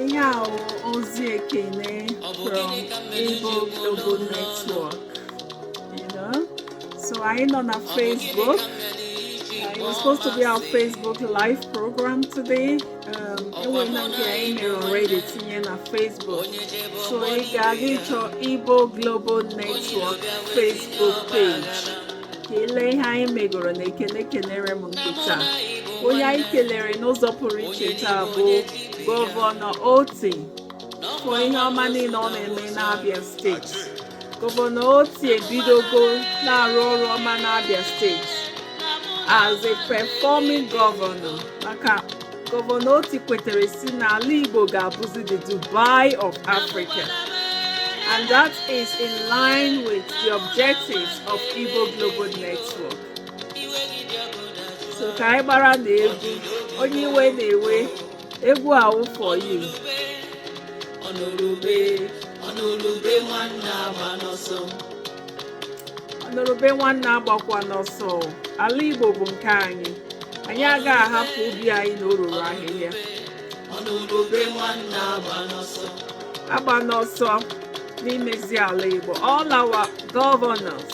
ihe a ozi ekene from Igbo Global Network you know so anyị nọ na Facebook it was supposed to be our Facebook live program today enwela nke anyị mere already tinye na Facebook so ị ga-aga ịchọ Igbo Global Network Facebook page ka i lee ihe anyị megoro na ekene kenere m nke taa onye anyị kelere n'ụzọ pụrụ iche taa bụ gọvanọ Oti for ihe ọma niile ọ na-eme n'Abia steeti gọvanọ Oti ebidogo na-arụ ọrụ ọma n'Abia steeti as a performing governor maka gọvanọ Oti kwetere sị n'ala Igbo ga-abụzi the Dubai of Africa and that is in line with the objectives of Igbo Global Network so ka anyị gbara na egwu onye iwe na-ewe egwu a wụ for you ọnụrụ ube ọnụrụ ube nwanne agbana ọsọ ọnụrụ ube nwanne agbakwana ọsọ ala igbo bụ nke anyị anyị agaghị ahapụ ubi anyị na o ruru ahịhịa ọnụrụ ube nwanne agbana ọsọ agbana ọsọ n'imezi ala igbo all our governors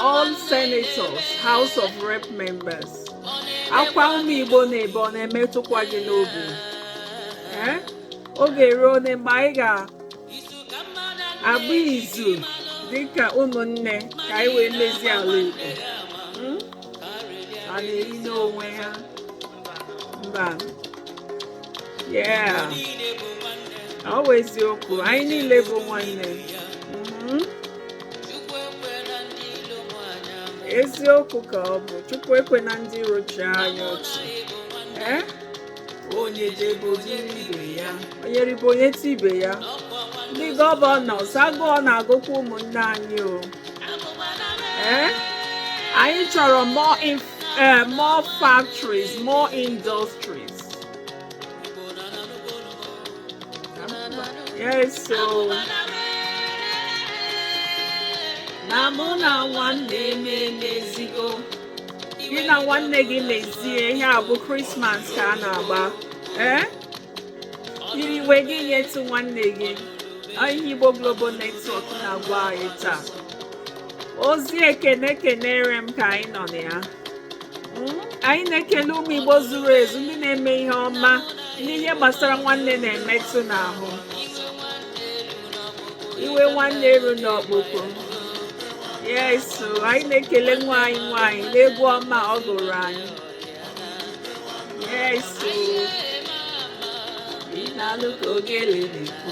all senators house of rep members akwa ụmụ igbo na-ebe ọ na-emetụkwa gị n'obi ọ ga-eru one mgbe anyị ga-agba izu dịka ụmụnne ka anyị wee mezie ala igbo hmm? a na-eri n'onwe ya mba yeah ọ bụ eziokwu anyị niile bụ nwanne mhm. eziokwu ka ọ bụ chukwu ekwena ndị iro chịa anyị ọchị eh? onye jebe ibe ya onye ribe o nyetụ ibe ya ndị gọvanọs agụụ na-agụkwa ụmụnne anyị o eh? anyị chọrọ more eh, more factories more industries Yes, so. Na mụ na nwanne m emezigo. Gị na nwanne gị mezie ihe a bụ Krismas ka a na-agba. Ee? Eh? I riwe gị nyetụ nwanne gị. Ihe Igbo Global Network na-agwa anyị taa. Ozi ekene kenere m ka anyị nọ na ya. anyị na-ekele ụmụ Igbo zuru ezu ndị na-eme ihe ọma n'ihe gbasara nwanne na-emetụ n'ahụ iwe nwanne eru n'ọkpụkpụ yesu anyị na-ekele nwa anyị nwaanyị n'egwu ọma ọ gụrụ anyị yes o ị na-anụ ka ogele na-ekwu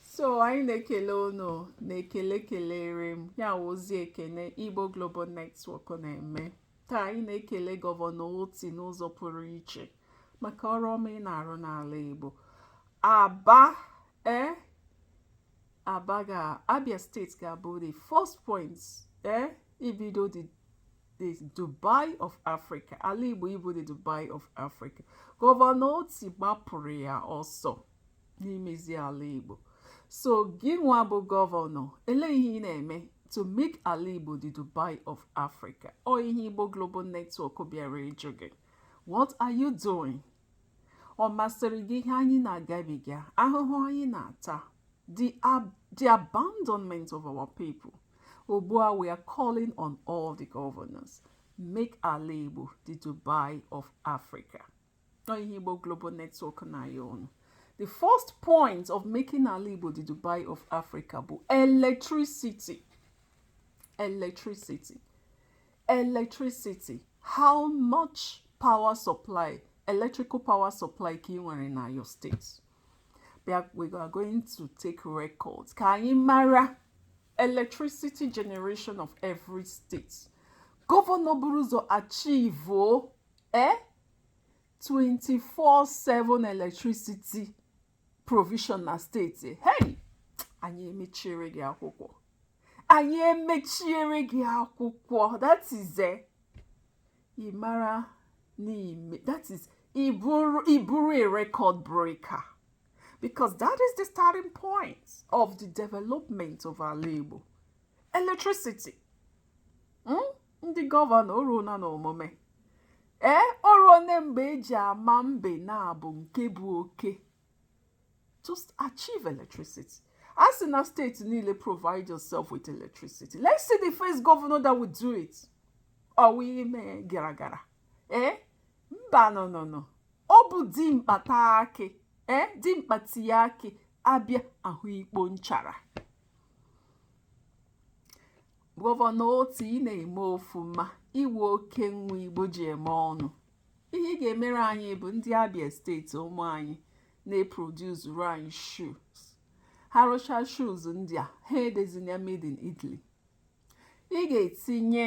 so anyị na-ekele unu na-ekele kelere m ya wụzi ekene Igbo Global Network na-eme taa anyị na-ekele gọvanọ Otti n'ụzọ pụrụ iche maka ọrụ ọma ị na-arụ n'ala Igbo Aba e Aba ga Abia state ga-abụ the first point e ibido the the Dubai of Africa ala Igbo ịbụ the Dubai of Africa gọvanọ Otti gbapụrụ ya ọsọ n'imezi ala Igbo so gị nwa bụ gọvanọ elee ihe ị na-eme to make ala Igbo the Dubai of Africa ọ ihe Igbo Global Network bịara ịjụ gị what are you doing ọ masịrị gị ihe anyị na-agabiga ahụhụ anyị na-ata the, ab the abandonment of our people ugbu a, we are calling on all the governors. Make ala Igbo the Dubai of Africa. ihe Igbo Global Network na-ayọ unu the first point of making ala Igbo the Dubai of Africa bụ electricity electricity electricity how much power supply electrical power supply ka ị nwere na your state bịa we are going to take records ka anyị mara electricity generation of every state gọvanọ buru ụzọ achieve eh? 24/7 electricity provision na state hey anyị emechiere gị akwụkwọ anyị emechiere gị akwụkwọ that is a eh, ị mara n'ime that is ị bụrụ ị bụrụ a record breaker because that is the starting point of the development of ala Igbo electricity hmm? ndị gọvanọ o ruona n'omume ee o ruona mgbe e ji ama mbe naabọ nke bụ oke just achieve electricity a sị na steeti niile provide yourself with electricity let's see the first governor that will do it ọ wụ ime gara gara ee mba no no no ọ bụ dimkpa taa akị ee eh, dimkpa tie akị a bịa hụ ikpo nchara gọvanọ oti ị na-eme ọfụma ị wụ oke nwa igbo ji eme ọnụ ihe ị ga-emere anyị bụ ndị abia steeti ụmụ anyị na-eproduzuru anyị shoes ha rụcha shoes ndị a ha edezi na ya made in italy ị ga-etinye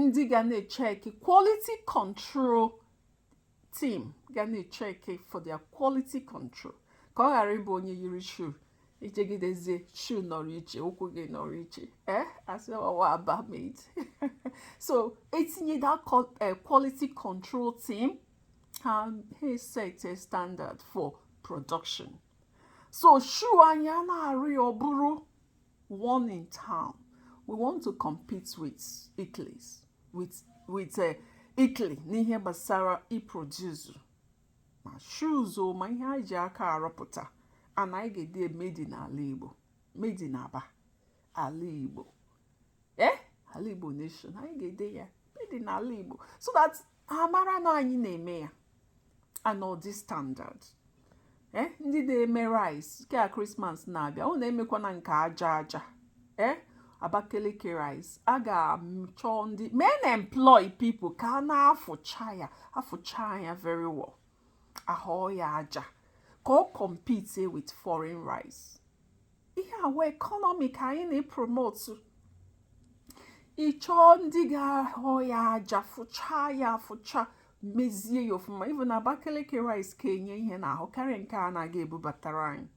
ndị ga na-echeki quality control team ga na-echeki for their quality control ka ọ ghara ịbụ onye yiri shoe i jegidezie shoe nọrọ iche ụkwụ gị nọrọ iche eh a sị ọ wụ aba made so e tinye that eh, quality control team ha set a standard for production so shoe anyị na-arụ ya ọ bụrụ one in town we want to compete with Italy with with uh, Italy n'ihe gbasara iproduce ma shoes o ma ihe anyị ji aka arụpụta and anyị ga-ede made n'ala Igbo made n'Aba ala Igbo ee eh? ala Igbo nation anyị ga-ede ya made n'ala Igbo so that a mara na anyị na-eme ya and ọ dị standard ee eh, ndị na-eme rice nke a krismas na-abịa unu emekwana nke aja aja ee eh, abakaliki rice a ga-achọ ndị I mean employ people ka a na-afụcha ya afụcha ya very well a họọ ya aja ka ọ compete with foreign rice ihe our economy ka anyị na-epromotu ị chọọ ndị ga-ahọ ya aja fụchaa ya afụcha mezie ya ọfụma even na Abakaliki rice ka enye ihe n'ahụ karịa nke a na-aga ebubatara anyị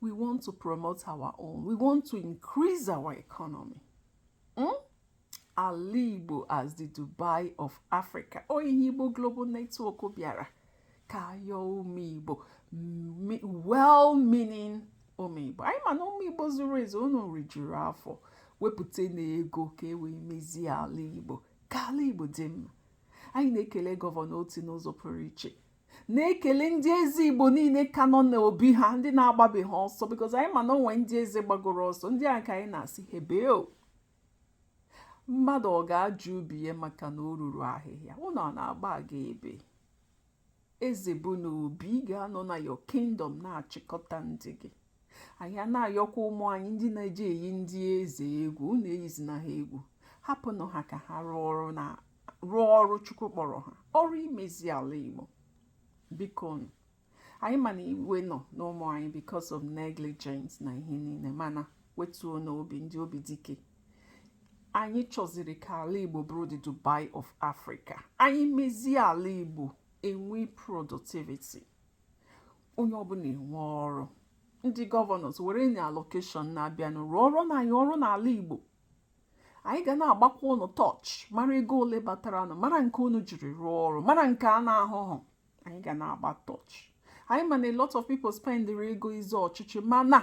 we want to promote our own we want to increase our economy hmm? ala igbo as the dubai of africa ọ wụ ihe igbo global network bịara ka a yọọ ụmụ igbo well meaning ụmụ igbo anyị ma na ụmụ igbo zuru ezu unu rijuru afọ wepụtanụ ego ka e wee mezie ala igbo ka ala igbo dị mma anyị na-ekele gọvanọ oti n'ụzọ pụrụ iche na-ekele ndị eze igbo niile ka nọ n'obi ha ndị na-agbabeghị ọsọ because anyị ma na o nwe ndị eze gbagoro ọsọ ndị a ka anyị na-asị hebeo mmadụ ọ ga-ajụ ubi ya maka na o ruru ahịhịa unu a na-agba aga ebee eze bụ na obi ị ga-anọ na your kingdom na-achịkọta ndị gị anyị na-ayọkwa ụmụ anyị ndị na-eji eyi ndị eze egwu unu eyizina ha egwu hapụnụ ha ka ha rụọ ọrụ chukwu kpọrọ ha ọrụ imezi ala igbo bikonụ anyị ma na iwe nọ n'ụmụ anyị because of negligence na ihe niile mana wetuonụ obi ndị obi dike anyị chọziri ka ala igbo bụrụ the dubai of africa anyị mezie ala igbo e nwee productivity onye ọbụla enwee ọrụ ndị governors werenụ allocation na-abịanụ rụọrọnụ anyị ọrụ n'ala igbo anyị ga na-agbakwa unu tọch mara ego ole bataranụ mara nke unu jiri rụọ ọrụ mara nke a na-ahụhụ anyị ga na-agba tọchị anyị ma na a lot of people spendịrị ego ịzọ ọchịchị mana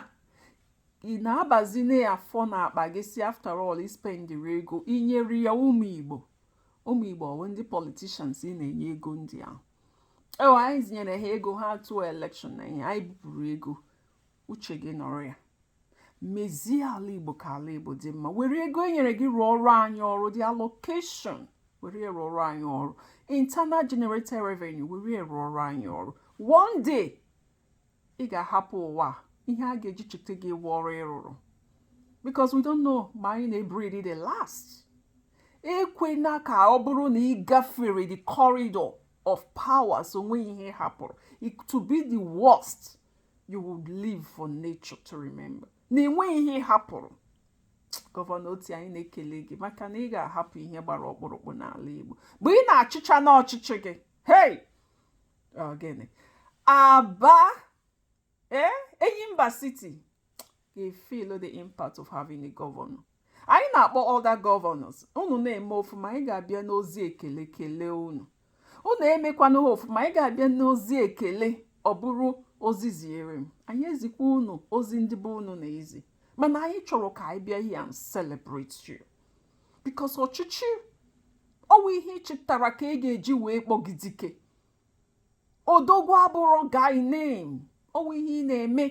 ị na-abazi na ya afọ n'akpa gị sị after all i spendịrị ego i nyere ya ụmụ igbo ụmụ igbo ọ wụ ndị politicians ị na-enye ego ndị ahụ ọ wụ anyịzi nyere ha ego ha tụọ election na ihe anyị bupụrụ ego uche gị nọrọ ya mezie ala igbo ka ala igbo dị mma were ego e nyere gị rụọrọ anyị ọrụ the allocation were ya rụọrọ anyị ọrụ internal generated revenue were ya rụọrọ anyị ọrụ one day ị ga-ahapụ ụwa ihe a ga-eji cheta gị wụ ọrụ ị rụrụ because we don't know ma anyị na-ebreathe the last ekwena ka ọ bụrụ na ị gafere the corridor of powers o nweghị ihe ị hapụrụ to be the worst you would live for nature to remember na enweghị ihe ị hapụrụ gọvanọ Otti anyị na-ekele gị maka na ị ga-ahapụ ihe gbara ọkpụrụkpụ n'ala Igbo mgbe ị na-achịcha n'ọchịchị gị hey gịnị aba ee eh, Enyimba City ga-efeel the impact of having a governor anyị na-akpọ other governors unu na-eme ọfụma anyị ga-abịa n'ozi ekele kelee unu unu emekwanụghị ọfụma anyị ga-abịa n'ozi ekele ọ bụrụ ozi ziere m anyị ezikwa unu ozi ndị bụ unu na-ezi mana anyị chọrọ ka anyị bịa here and celebrate you because ọchịchị ọ wụ ihe ị chịtara ka a ga-eji wee kpọọ gị dike odogwu abụrọ guy name ọ wụ ihe ị na-eme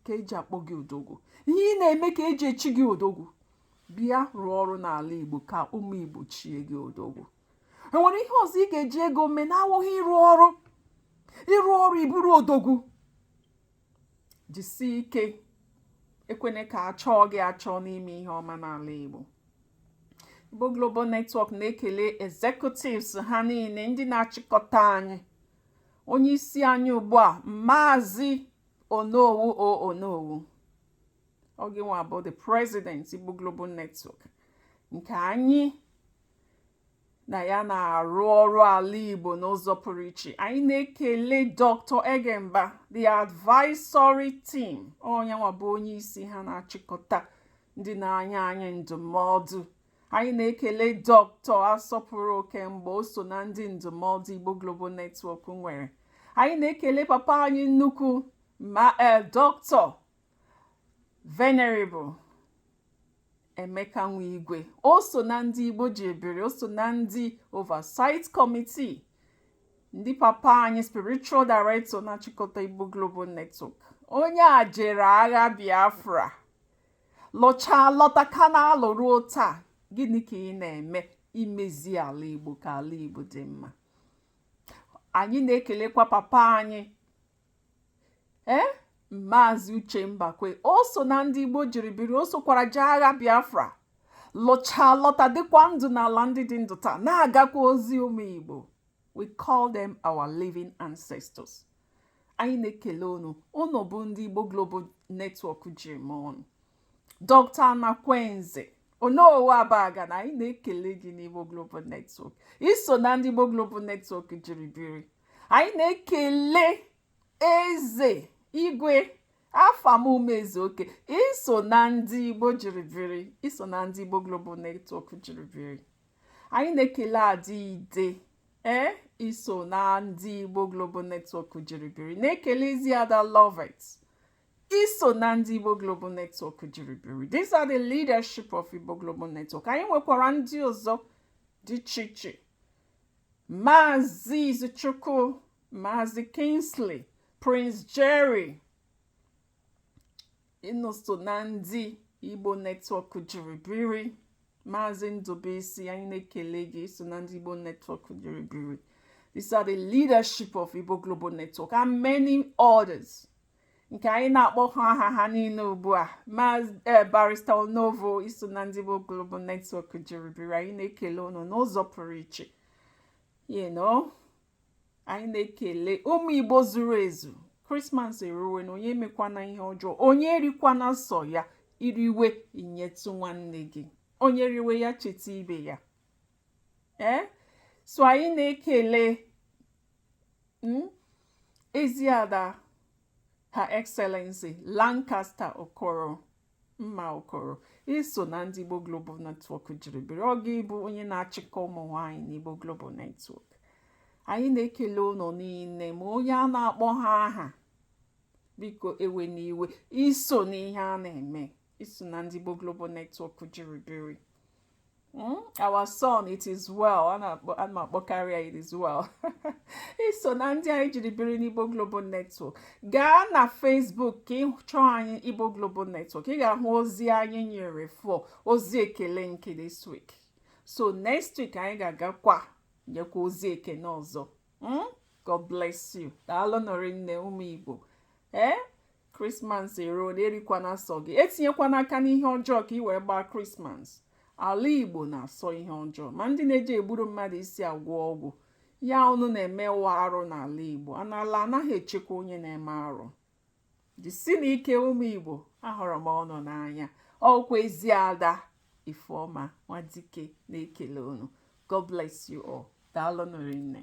ka e ji akpọ gị odogwu ihe ị na-eme ka e ji echi gị odogwu bịa rụọ ọrụ n'ala igbo ka ụmụ igbo chie gị odogwu o nwere ihe ọzọ ị ga-eji ego mee na-awụghị ịrụ ọrụ ị rụọ ọrụ ị bụrụ odogwu jisie ike ekwene ka a chọọ gị achọ n'ime ihe ọma n'ala Igbo Igbo Global Network na-ekele executives ha niile ndị na-achịkọta anyị onye isi anyị ugbu a Maazị Onowu o Onowu oge nwa bụ the president Igbo Global Network nke anyị na ya na-arụ ọrụ ala Igbo n'ụzọ pụrụ iche anyị na-ekele Dr. Egemba the advisory team onye nwa bụ onye isi ha na-achịkọta ndị na-enye anyị ndụmọdụ anyị na-ekele Dr. Asọpụrụ Okemgbo o so na ndị ndụmọdụ Igbo Global Network nwere anyị na-ekele papa anyị nnukwu ma eh, Dr. Venerable Emeka Nwigwe o so na ndị Igbo ji biri o so na ndị oversight committee ndị papa anyị spiritual director na-achịkọta Igbo Global Network onye a jere agha Biafra lọchaa lọta ka na-alụ ruo taa gịnị ka ị na-eme imezi ala Igbo ka ala Igbo dị mma anyị na-ekelekwa papa anyị ee eh? maazị uche mbakwe o so na ndị igbo jiri biri o sokwara jee agha biafra lọchaa lọta dịkwa ndụ n'ala ndị dị ndụ taa na-agakwa ozi ụmụ igbo we call them our living ancestors anyị na-ekele unu unu bụ ndị igbo global network ji eme ọnụ dọkta anakwenze onowu abagana anyị na-ekele gị n'igbo global network i so na ndị igbo global network jiri biri anyị na-ekele eze igwe afam umezuoke i so na ndị igbo jiri biri i so na ndị igbo global network jiri biri anyị na-ekele ada ide ee eh, i so na ndị igbo global network jiri biri na-ekele ezi ada lovet i so na ndị igbo global network jiri biri these are the leadership of igbo global network anyị nwekwara ndị ọzọ dị iche iche Maazị Izuchukwu Maazị Kingsley Prince Jerry unu so na ndị Igbo netwọk jiri biri Maazị Ndubuisi anyị na-ekele gị i so na ndị Igbo netwọk jiri biri These are the leadership of Igbo Global Network and many others. nke anyị na-akpọhụ aha ha niile ugbu a ma eh, Barrister Onovo i so na ndị Igbo Global Network jiri biri anyị na-ekele unu n'ụzọ pụrụ iche you know anyị na-ekele ụmụ Igbo zuru ezu krismas eruwenụ onye emekwana ihe ọjọọ onye erikwana sọ ya i riwe nyetụ nwanne gị onye riwe ya cheta ibe ya ee eh? so anyị na-ekele hmm? Eziada Her Excellency Lancaster Okoro Mma Okoro i so na ndị Igbo Global Network jiri biri ọ gị bụ onye na-achịkọ ụmụ nwaanyị n'Igbo Global Network anyị na-ekele unu niile ma onye a na-akpọhụ aha biko ewena iwe i so n'ihe a na-eme i so na ndị Igbo Global Network jiri biri hmm? our son it is well ana m akpọkarị ya it is well i so na ndị anyị jiri biri n'Igbo Global Network gaa na Facebook ka ị chọọ anyị Igbo Global Network ị ga-ahụ ozi anyị nyere for ozi ekele nke this week so next week anyị ga-agakwa nyekwa ozi ekene ọzọ hmm? god bless you daalụ nụ rinne ụmụ igbo ee eh? krismas eruo na erikwana sọ gị etinyekwana aka n'ihe ọjọọ ka ị wee gbaa krismas ala igbo na-asọ ihe ọjọọ ma ndị na-eji egburu mmadụ isi agwọ ọgwụ ya unu na-emewa arụ n'ala igbo a na ala anaghị echekwa onye na-eme arụ jisinụ ike ụmụ igbo ahụrụ m unu n'anya ọkwa ezi ada ifeọma nwadike na-ekele unu god bless you all daalụ nụ rinne